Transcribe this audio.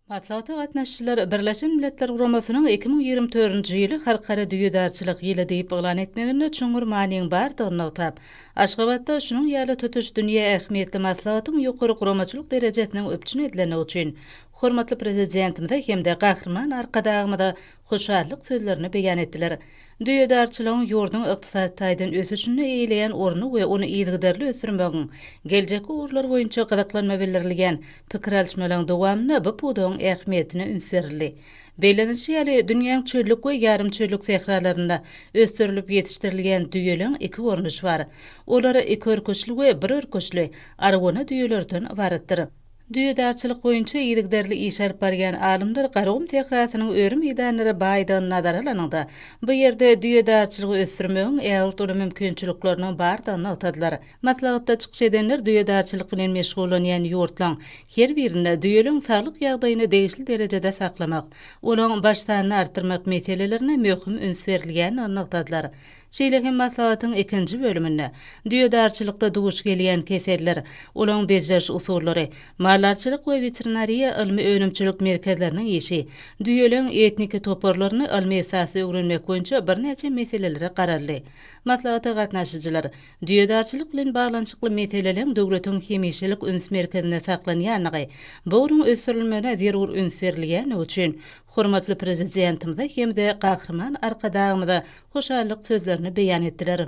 Maslahata gatnaşyjylar Birleşen Milletler Guramasynyň iki müň ýigrimi dördünji ýyly Halkara düýedarçylyk ýyly diýip yglan etmeginde çuňňur manyň bardygyny nygtap, Aşgabatda şunuň ýaly tutuş dünýä ähmiýetli maslahatyň ýokary guramaçylyk derejesiniň üpjün edilendigi üçin hormatly Prezidentimize hem-de Gahryman Arkadagymyza hoşallyk sözlerini beýan etdiler. Düýedarçylygyň ýurduň ykdysady taýdan ösüşinde eýeleýän orny we ony yzygiderli ösdürmegiň geljekki ugurlary boýunça gyzyklanma bildirilýän pikir alyşmalaryň dowamynda bu pudagyň ähmiýetine üns berildi. Bellenilişi ýaly, dünýäň çöllük we ýarym çöllük sähralarynda ösdürilip ýetişdirilýän düýeleriň iki görnüşi bar. Olar iki örküçli we bir örküçli, argona düýelerden ybaratdyr. Düýedarçylyk boýunça yzygiderli iş alyp barýan alymlar Garagum sährasynyň öri meýdanlara baýdygyny nazara alanyňda, bu ýerde düýedarçylygy ösdürmegiň ägirt uly mümkinçilikleriniň bardygyny nygtadylar. Maslahatda çykyş edenler düýedarçylyk bilen meşgullanýan ýurtlaryň her birinde düýeleriň saglyk ýagdaýyny degişli derejede saklamak, olaň baş sanyny artdyrmak meselelerine möhüm üns berilýändigini nygtadylar. Şeýle hem maslahatyň ikinji bölüminde düýedarçylykda duş gelýän keseller, olaň bejeriş usullary, maldarçylyk we weterinariýa ylmy-önümçilik merkezleriniň işi, düýeleriň etniki toparlaryny ylmy esasda öwrenmek boýunça birnäçe meselelere garaldy. Maslahata gatnaşyjylar düýedarçylyk bilen baglanyşykly meseleleriň döwletiň hemişelik üns merkezinde saklanýandygy, bu ugruň ösdürilmegine zerur üns berilýändigi üçin, Hormatly Prezidentimize hem-de Gahryman Arkadagymyza hoşallyk sözlerini beýan etdiler.